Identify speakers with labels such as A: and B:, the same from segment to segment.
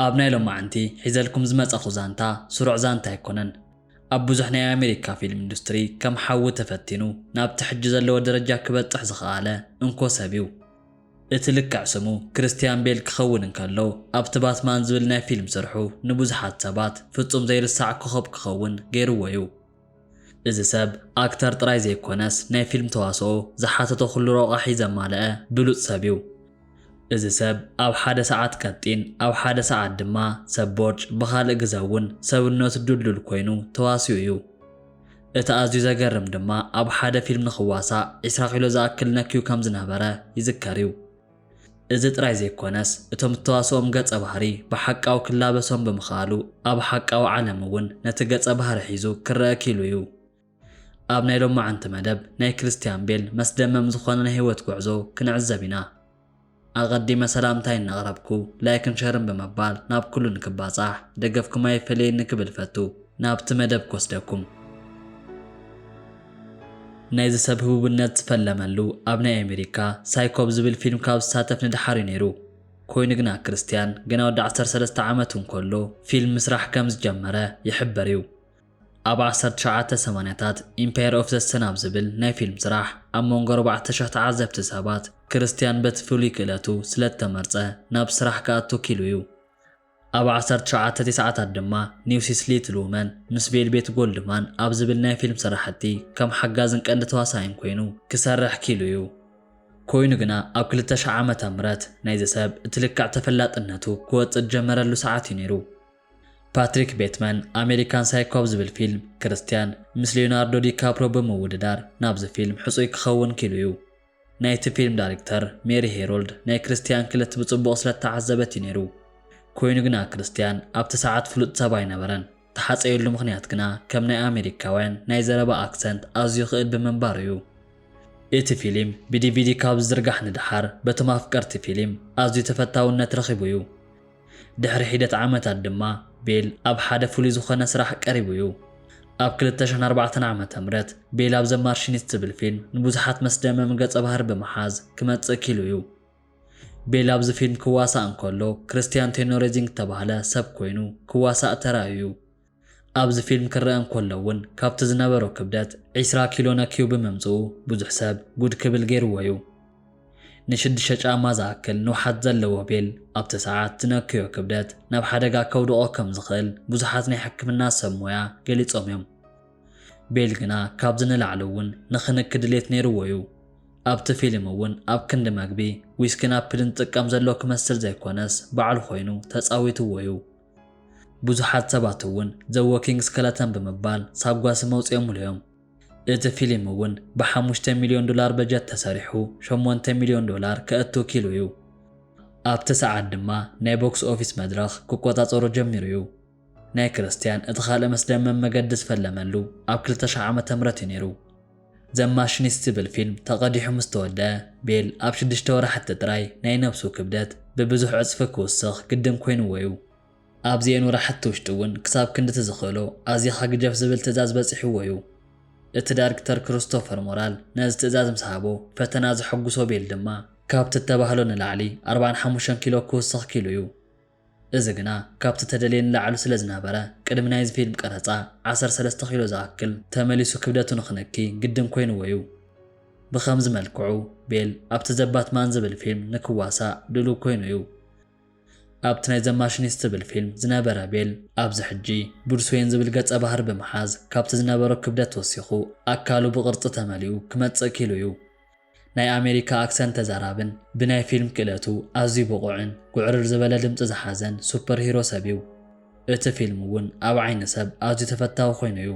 A: ኣብ ናይ ሎማዕንቲ ሒዘልኩም ዝመጻኹ ዛንታ ስሩዕ ዛንታ ኣይኮነን። ኣብ ብዙሕ ናይ ኣሜሪካ ፊልም ኢንዱስትሪ ከም ሓዊ ተፈቲኑ ናብቲ ሕጂ ዘለዎ ደረጃ ክበጽሕ ዝኸኣለ እንኮ ሰብ'ዩ። እቲ ልክዕ ስሙ ክርስትያን ቤል ክኸውን እንከሎ ኣብቲ ባትማን ዝብል ናይ ፊልም ስርሑ ንብዙሓት ሰባት ፍጹም ዘይርሳዕ ኮኾብ ክኸውን ገይርዎ'ዩ። እዚ ሰብ ኣክተር ጥራይ ዘይኮነስ ናይ ፊልም ተዋስኦ ዝሓተቶ ኩሉ ሮቛሒ ዘማለኣ ብሉጽ ሰብ ዩ። እዚ ሰብ ኣብ ሓደ ሰዓት ቀጢን ኣብ ሓደ ሰዓት ድማ ሰብ ቦርጭ ብኻልእ ግዘ ውን ሰብነቱ ዱልዱል ኮይኑ ተዋሲኡ ዩ። እቲ ኣዝዩ ዘገርም ድማ ኣብ ሓደ ፊልም ንኽዋሳእ ዒስራ ኪሎ ዝኣክል ነክዩ ከም ዝነበረ ይዝከር ዩ። እዚ ጥራይ ዘይኮነስ እቶም እተዋስኦም ገጸ ባህሪ ብሓቃዊ ክላበሶም ብምኽኣሉ ኣብ ሓቃዊ ዓለም እውን ነቲ ገጸ ባህሪ ሒዙ ክረኣ ኪኢሉ እዩ። ኣብ ናይ ሎማዕንቲ መደብ ናይ ክርስትያን ቤል መስደመም ዝኾነ ናይ ሕይወት ጉዕዞ ክንዕዘብ ኢና። ኣቐዲመ ሰላምታይ እናቕረብኩ ላይክን ሸርን ብምባል ናብ ኩሉ ንክባጻሕ ደገፍኩም ኣይፈለየኒ ክብል እፈቱ። ናብቲ መደብ ክወስደኩም። ናይዚ ሰብ ህቡብነት ዝፈለመሉ ኣብ ናይ ኣሜሪካ ሳይኮ ኣብ ዝብል ፊልም ካብ ዝሳተፍ ንደሓር እዩ ነይሩ። ኮይኑ ግና ክርስትያን ገና ወዲ ዓሰርተ ሰለስተ ዓመቱ እንከሎ ፊልም ምስራሕ ከም ዝጀመረ ይሕበር እዩ። ኣብ ዓሰርተ ትሽዓተ ሰማንያታት ኢምፓየር ኦፍ ዘ ሰን ኣብ ዝብል ናይ ፊልም ስራሕ ኣብ መንጎ ኣርባዕተ ሽሕ ተዓዘብቲ ሰባት ክርስትያን በቲ ፍሉይ ክእለቱ ስለ እተመርጸ ናብ ስራሕ ክኣቱ ኪኢሉ እዩ። ኣብ ዓሰርተ ትሽዓተ ቴስዓታት ድማ ኒውሲስ ሊትል ውመን ምስ ቬልቤት ጎልድማን ኣብ ዝብል ናይ ፊልም ስራሕቲ ከም ሓጋዝን ቀንዲ ተዋሳኣይን ኮይኑ ክሰርሕ ኪኢሉ እዩ። ኮይኑ ግና ኣብ ክልተ ሽሕ ዓመተ ምህረት ናይዚ ሰብ እቲ ልክዕ ተፈላጥነቱ ክወጽእ ዝጀመረሉ ሰዓት እዩ ነይሩ። ፓትሪክ ቤትመን ኣሜሪካን ሳይኮ ኣብ ዝብል ፊልም ክርስትያን ምስ ሊዮናርዶ ዲካፕርዮ ብምውድዳር ናብዚ ፊልም ሕጹይ ክኸውን ኪኢሉ እዩ። ናይቲ ፊልም ዳሪክተር ሜሪ ሄሮልድ ናይ ክርስትያን ክለት ብጽቡቕ ስለ እተዓዘበት እዩ ነይሩ። ኰይኑ ግና ክርስትያን ኣብቲ ሰዓት ፍሉጥ ሰብ ኣይነበረን። እተሓጸየሉ ምኽንያት ግና ከም ናይ ኣመሪካውያን ናይ ዘረባ ኣክሰንት ኣዝዩ ክእል ብምንባሩ እዩ። እቲ ፊልም ብዲቪዲ ካብ ዝዝርጋሕ ንደሓር በቶም ኣፍቀርቲ ፊልም ኣዝዩ ተፈታውነት ረኺቡ እዩ። ድሕሪ ሒደት ዓመታት ድማ ቤል ኣብ ሓደ ፍሉይ ዝኾነ ስራሕ ቀሪቡ እዩ። ኣብ ክልተ ሽሕን ኣርባዕተን ዓመተ ምህረት ቤል ኣብ ዘ ማርሺኒስት ዝብል ፊልም ንብዙሓት መስደመም ገጸ ባህሪ ብምሓዝ ክመጽእ ኪሉ እዩ። ቤል ኣብዚ ፊልም ክዋሳእ እንከሎ ክርስትያን ቴኖሬዚንግ እተባህለ ሰብ ኮይኑ ክዋሳእ ተራእዩ እዩ። ኣብዚ ፊልም ክረኣ እንከሎ ውን ካብቲ ዝነበሮ ክብደት ዕስራ ኪሎ ነክዩ ብምምጽኡ ብዙሕ ሰብ ጉድ ክብል ጌርዎ'ዩ። ንሽዱሽተ ጫማ ዝኣክል ንውሓት ዘለዎ ቤል ኣብቲ ሰዓት ዝነክዮ ክብደት ናብ ሓደጋ ከውድቖ ከም ዝኽእል ብዙሓት ናይ ሕክምና ሰብ ሞያ ገሊጾም'ዮም። ቤል ግና ካብዚ ንላዕሊ'ውን ንኽንኪ ድሌት ነይርዎ'ዩ። ኣብቲ ፊልም'ውን ኣብ ክንዲ መግቢ ዊስኪን ኣፕልን ዝጥቀም ዘሎ ክመስል ዘይኮነስ ባዕሉ ኮይኑ ተጻዊትዎ'ዩ። ብዙሓት ሰባት እውን The Walking Skeleton ብምባል ሳጓ ስም ኣውጺኦምሉ እዮም። እቲ ፊሊም እውን ብሓሙሽተ ሚልዮን ዶላር በጀት ተሰሪሑ ሸሞንተ ሚልዮን ዶላር ከእቱ ኪሉ እዩ። ኣብቲ ሰዓት ድማ ናይ ቦክስ ኦፊስ መድረኽ ክቆጻጸሮ ጀሚሩ እዩ። ናይ ክርስትያን እቲ ካልእ መስደመም መገዲ ዝፈለመሉ ኣብ ክልተ ሽሕ ዓመተ ምህረት እዩ ነይሩ። ዘ ማሽኒስት ዝብል ፊልም ተቐዲሑ ምስ ተወድኣ፣ ቤል ኣብ ሽዱሽተ ወራሕቲ ጥራይ ናይ ነብሱ ክብደት ብብዙሕ ዕጽፊ ክውስኽ ግድን ኮይንዎ'ዩ። ኣብዚኤን ወራሕቲ ውሽጢ'ውን ክሳብ ክንድቲ ዝኽእሎ ኣዚኻ ግጀፍ ዝብል ትእዛዝ በጺሕዎ'ዩ። እቲ ዳርክተር ክሩስቶፈር ሞራል ነዚ ትእዛዝ ምስ ሃቦ፣ ፈተና ዘሐጉሶ ቤል ድማ፣ ካብቲ እተባህሎ ንላዕሊ ኣርብዓን ሓሙሽተን ኪሎ ክውስኽ ኪኢሉ'ዩ። እዚ ግና ካብቲ ተደልየ ንላዕሉ ስለ ዝነበረ ቅድሚ ናይዚ ፊልም ቀረጻ ዓሰርተ ሰለስተ ኪሎ ዝኣክል ተመሊሱ ክብደቱ ንኽነኪ ግድን ኮይንዎ'ዩ። ብኸምዚ መልክዑ ቤል ኣብቲ ዘ ባትማን ዝብል ፊልም ንክዋሳእ ድሉው ኮይኑ'ዩ። ኣብቲ ናይ ዘ ማሽኒስት ዝብል ፊልም ዝነበረ ቤል ኣብዚ ሕጂ ብሩስ ወይን ዝብል ገጸ ባህሪ ብምሓዝ ካብቲ ዝነበሮ ክብደት ወሲኹ ኣካሉ ብቕርጺ ተመሊኡ ክመጽእ ኪሉ'ዩ። ናይ ኣሜሪካ ኣክሰንት ተዛራብን ብናይ ፊልም ክእለቱ ኣዝዩ ብቑዕን ጉዕርር ዝበለ ድምጺ ዝሓዘን ሱፐር ሂሮ ሰብ'ዩ። እቲ ፊልም እውን ኣብ ዓይኒ ሰብ ኣዝዩ ተፈታዊ ኮይኑ'ዩ።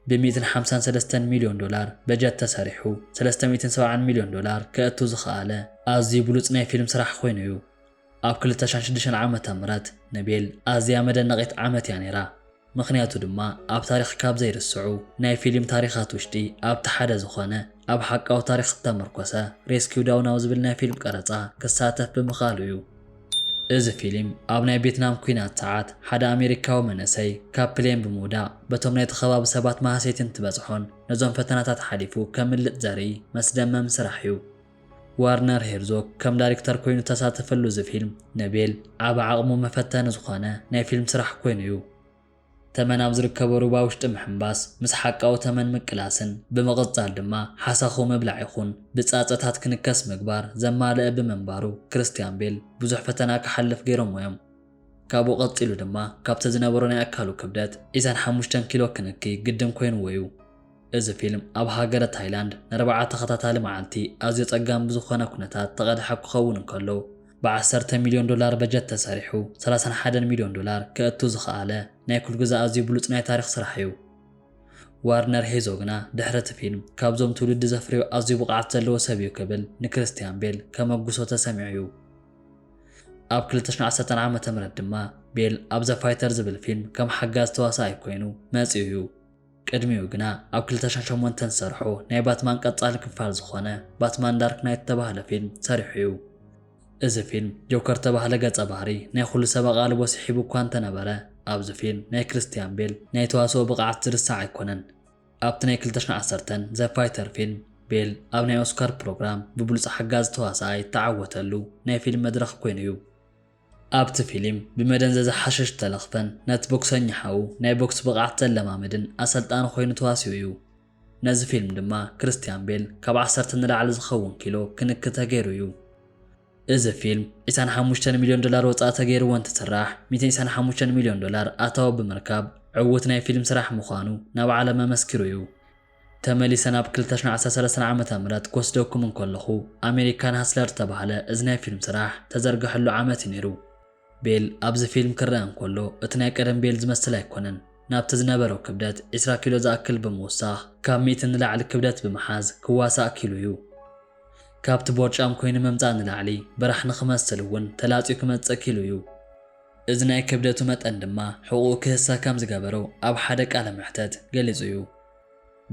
A: ብ ሚእትን ሓምሳን ሰለስተን ሚልዮን ዶላር በጀት ተሰሪሑ ሰለስተ ሚእትን ሰብዓን ሚልዮን ዶላር ከእቱ ዝኸኣለ ኣዝዩ ብሉጽ ናይ ፊልም ስራሕ ኮይኑ'ዩ። ኣብ ክልተ ሽሕን ሽዱሽተን ዓመተ ምህረት ንቤል ኣዝያ መደነቒት ዓመት እያ ነይራ፣ ምኽንያቱ ድማ ኣብ ታሪኽ ካብ ዘይርስዑ ናይ ፊሊም ታሪኻት ውሽጢ ኣብቲ ሓደ ዝኾነ ኣብ ሓቃዊ ታሪኽ ዝተመርኮሰ ሬስኪው ዳውን ኣብ ዝብል ናይ ፊልም ቀረጻ ክሳተፍ ብምኽኣሉ እዩ። እዚ ፊሊም ኣብ ናይ ቬትናም ኩናት ሰዓት ሓደ ኣሜሪካዊ መንእሰይ ካብ ፕሌን ብምውዳቕ በቶም ናይቲ ከባቢ ሰባት ማህሰይቲ እንትበጽሖን ነዞም ፈተናታት ሓሊፉ ከምልጥ ዘርኢ መስደመም ስራሕ እዩ። ወርነር ሄርዞግ ከም ዳሪክተር ኮይኑ ተሳተፈሉ እዚ ፊልም ንቤል ኣብ ዓቕሙ መፈተኒ ዝኾነ ናይ ፊልም ስራሕ ኮይኑ እዩ። ተመን ኣብ ዝርከቦ ሩባ ውሽጢ ምሕምባስ፣ ምስ ሓቃዊ ተመን ምቅላስን ብምቕጻል ድማ ሓሳኹ ምብላዕ ይኹን ብጻጸታት ክንከስ ምግባር ዘማለእ ብምንባሩ ክርስትያን ቤል ብዙሕ ፈተና ክሓልፍ ገይሮምዎ እዮም። ካብኡ ቀጺሉ ድማ ካብቲ ዝነበሮ ናይ ኣካሉ ክብደት ዒስራን ሓሙሽተን ኪሎ ክንኪ ግድን ኮይንዎ እዩ። እዚ ፊልም ኣብ ሃገረ ታይላንድ ንኣርብዓ ተኸታታሊ መዓልቲ ኣዝዩ ጸጋም ብዝኾነ ኩነታት ተቐድሐ ክኸውን እንከሎ፣ ብ ዓሰርተ ሚልዮን ዶላር በጀት ተሰሪሑ ሰላሳን ሓደን ሚልዮን ዶላር ከእቱ ዝኸኣለ ናይ ኩልግዘ ኣዝዩ ብሉጽ ናይ ታሪኽ ስራሕ'ዩ። ዋርነር ሄዞ ግና ድሕሪ እቲ ፊልም ካብዞም ትውልዲ ዘፍርዮ ኣዝዩ ብቕዓት ዘለዎ ሰብ'ዩ ክብል ንክሪስትያን ቤል ከመጉሶ ተሰሚዑ'ዩ። ኣብ ክልተ ሽሕን ዓሰርተን ዓመተ ምህረት ድማ ቤል ኣብ ዘ ፋይተር ዝብል ፊልም ከም ሓጋዚ ተዋሳኣይ ኮይኑ መጺኡ'ዩ። ቅድሚኡ ግና ኣብ ክልተ ሽሕን ሸሞንተን ዝሰርሖ ናይ ባትማን ቀጻሊ ክፋል ዝኾነ ባትማን ዳርክ ናይት እተባህለ ፊልም ሰሪሑ እዩ። እዚ ፊልም ጆከር እተባህለ ገጸ ባህሪ ናይ ኹሉ ሰብ ኣቓልቦ ስሒቡ እኳ እንተነበረ ኣብዚ ፊልም ናይ ክርስትያን ቤል ናይ ተዋስኦ ብቕዓት ዝርሳዕ ኣይኮነን። ኣብቲ ናይ ክልተ ሽሕን ዓሰርተን ዘ ፋይተር ፊልም ቤል ኣብ ናይ ኦስካር ፕሮግራም ብብሉጽ ሓጋዚ ተዋሳኣይ እተዓወተሉ ናይ ፊልም መድረኽ ኮይኑ እዩ። ኣብቲ ፊሊም ብመደንዘዚ ሓሽሽ ዝተለኽፈን ነቲ ቦክሰኛ ሓዉ ናይ ቦክስ ብቕዓት ዘለማምድን ኣሰልጣኒ ኮይኑ ተዋሲኡ እዩ። ነዚ ፊልም ድማ ክርስትያን ቤል ካብ ዓሰርተ ንላዕሊ ዝኸውን ኪሎ ክንኪ ተገይሩ እዩ። እዚ ፊልም ዒስራን ሓሙሽተን ሚልዮን ዶላር ወፃኢ ተገይርዎ እንትስራሕ ሚእትን ዒስራን ሓሙሽተን ሚልዮን ዶላር ኣታዊ ብምርካብ ዕዉት ናይ ፊልም ስራሕ ምዃኑ ናብ ዓለም ኣመስኪሩ እዩ። ተመሊሰ ናብ ክልተ ሽሕን ዓሰርተ ሰለስተን ዓመተ ምህረት ክወስደኩም እንከለኹ፣ ኣሜሪካን ሃስለር ዝተባህለ እዚ ናይ ፊልም ስራሕ ተዘርገሐሉ ዓመት እዩ ነይሩ። ቤል ኣብዚ ፊልም ክረኣ እንከሎ እቲ ናይ ቀደም ቤል ዝመስል ኣይኮነን። ናብቲ ዝነበሮ ክብደት ዕስራ ኪሎ ዝኣክል ብምውሳኽ ካብ ሚእቲ ንላዕሊ ክብደት ብምሓዝ ክዋሳእ ክኢሉ እዩ። ካብቲ ቦርጫም ኮይኑ ምምጻእ ንላዕሊ በራሕ ንኽመስል እውን ተላጽዩ ክመጽእ ክኢሉ እዩ። እዚ ናይ ክብደቱ መጠን ድማ ሕቑኡ ክህሰ ከም ዝገበሮ ኣብ ሓደ ቃለ መሕተት ገሊጹ እዩ።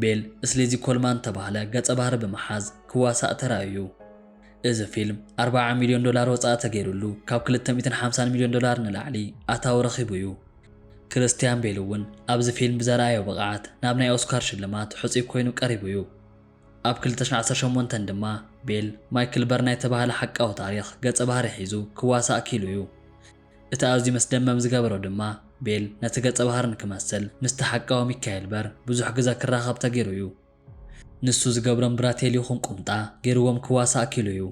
A: ቤል ስሊዚ ኮልማን እተባህለ ገጸ ባህሪ ብምሓዝ ክዋሳእ ተራእዩ እዩ። እዚ ፊልም ኣርብዓ ሚልዮን ዶላር ወጻኢ ተገይሩሉ ካብ ክልተ ሚእትን ሓምሳን ሚልዮን ዶላር ንላዕሊ ኣታዊ ረኺቡ እዩ። ክርስትያን ቤል እውን ኣብዚ ፊልም ብዘርኣዮ ብቕዓት ናብ ናይ ኦስካር ሽልማት ሕጹይ ኰይኑ ቀሪቡ እዩ። ኣብ ክልተ ሽሕን ዓሰርተ ሸሞንተን ድማ ቤል፣ ማይክል በርናይ እተባህለ ሓቃዊ ታሪኽ ገጸ ባህሪ ሒዙ ክዋሳእ ክኢሉ እዩ። እቲ ኣዝዩ መስደመም ዝገበሮ ድማ፣ ቤል ነቲ ገጸ ባህሪ ንክመስል ምስቲ ሓቃዊ ሚካኤል በር ብዙሕ ግዘ ክራኸብ ተገይሩ እዩ። ንሱ ዝገብሮም ብራቴል ይኹን ቁምጣ ገይርዎም ክዋሳእ ክኢሉ እዩ።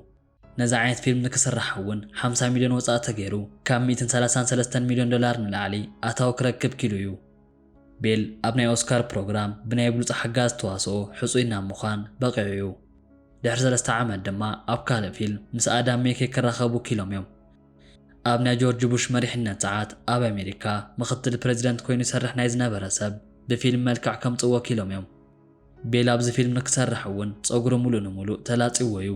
A: ነዚ ዓይነት ፊልም ንክስራሕ እውን ሓምሳ ሚልዮን ወፃኢ ተገይሩ ካብ ሚእትን ሰላሳን ሰለስተን ሚልዮን ዶላር ንላዕሊ ኣታዊ ክረክብ ኪኢሉ እዩ። ቤል ኣብ ናይ ኦስካር ፕሮግራም ብናይ ብሉፅ ሓጋዚ ተዋስኦ ሕፁይ ናብ ምዃን በቒዑ እዩ። ድሕሪ ሰለስተ ዓመት ድማ ኣብ ካልእ ፊልም ምስ ኣዳም ሜኬ ክራኸቡ ኪኢሎም እዮም። ኣብ ናይ ጆርጅ ቡሽ መሪሕነት ፀዓት ኣብ ኣሜሪካ ምኽትል ፕረዚደንት ኮይኑ ይሰርሕ ናይ ዝነበረ ሰብ ብፊልም መልክዕ ከምፅእዎ ኪኢሎም እዮም። ቤላ ኣብዚ ፊልም ንክሰርሕ እውን ጸጉሩ ሙሉእ ንሙሉእ ተላጽይዎ እዩ።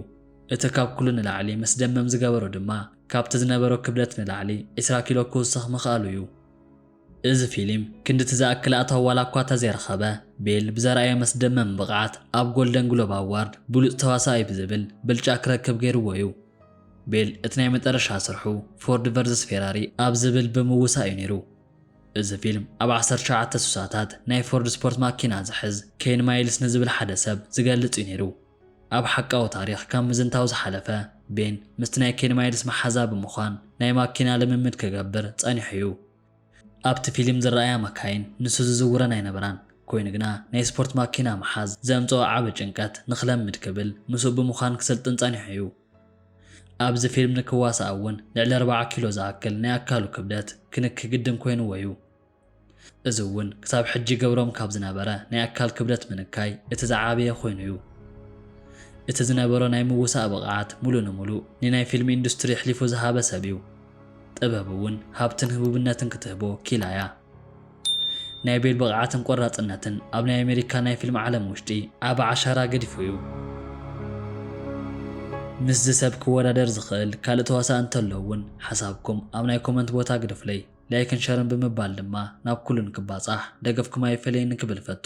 A: እቲ ካብ ኩሉ ንላዕሊ መስደመም ዝገበሮ ድማ ካብቲ ዝነበሮ ክብደት ንላዕሊ ዕስራ ኪሎ ክውስኽ ምኽኣሉ እዩ። እዚ ፊልም ክንድቲ ዝኣክል ኣታዊ ዋላ እኳ ተዘይረኸበ፣ ቤል ብዘርኣዮ መስደመም ብቕዓት ኣብ ጎልደን ግሎብ ኣዋርድ ብሉጽ ተዋሳኣይ ብዝብል ብልጫ ክረክብ ገይርዎ እዩ። ቤል እቲ ናይ መጠረሻ ስርሑ ፎርድ ቨርዝስ ፌራሪ ኣብ ዝብል ብምውሳእ እዩ ነይሩ። እዚ ፊልም ኣብ ዓሰርተ ትሽዓተ ስሳታት ናይ ፎርድ ስፖርት ማኪና ዝሕዝ ኬን ማይልስ ንዝብል ሓደ ሰብ ዝገልጽ እዩ ነይሩ። ኣብ ሓቃዊ ታሪኽ ካብ ምዝንታው ዝሓለፈ፣ ቤን ምስቲ ናይ ኬን ማይልስ መሓዛ ብምዃን ናይ ማኪና ልምምድ ክገብር ጸኒሑ እዩ። ኣብቲ ፊልም ዝረኣያ መካይን ንሱ ዝዝውረን ኣይነበራን፣ ኮይኑ ግና ናይ ስፖርት ማኪና ምሓዝ ዘምጽኦ ዓቢ ጭንቀት ንኽለምድ ክብል ምስኡ ብምዃን ክስልጥን ጸኒሑ እዩ። ኣብዚ ፊልም ንክዋሳእ እውን ልዕሊ ኣርባዓ ኪሎ ዝኣክል ናይ ኣካሉ ክብደት ክንኪ ግድን ኮይንዎ እዩ። እዚ እውን ክሳብ ሕጂ ይገብሮም ካብ ዝነበረ ናይ ኣካል ክብደት ምንካይ እቲ ዝዓበየ ኮይኑ እዩ። እቲ ዝነበሮ ናይ ምውሳእ ብቕዓት ሙሉእ ንሙሉእ ንናይ ፊልም ኢንዱስትሪ ኣሕሊፉ ዝሃበ ሰብ እዩ። ጥበብ እውን ሃብትን ህቡብነትን ክትህቦ ኪኢላ እያ። ናይ ቤል ብቕዓትን ቆራጽነትን ኣብ ናይ ኣሜሪካ ናይ ፊልም ዓለም ውሽጢ ዓቢ ዓሻራ ገዲፉ እዩ። ምስዚ ሰብ ክወዳደር ዝኽእል ካልእ ተዋሳኢ እንተሎ ውን ሓሳብኩም ኣብ ናይ ኮመንት ቦታ ግደፉለይ። ላይክን ሸርን ብምባል ድማ ናብ ኩሉ ንክባጻሕ ደገፍኩም ኣይፈለየኒ ክብል እፈቱ።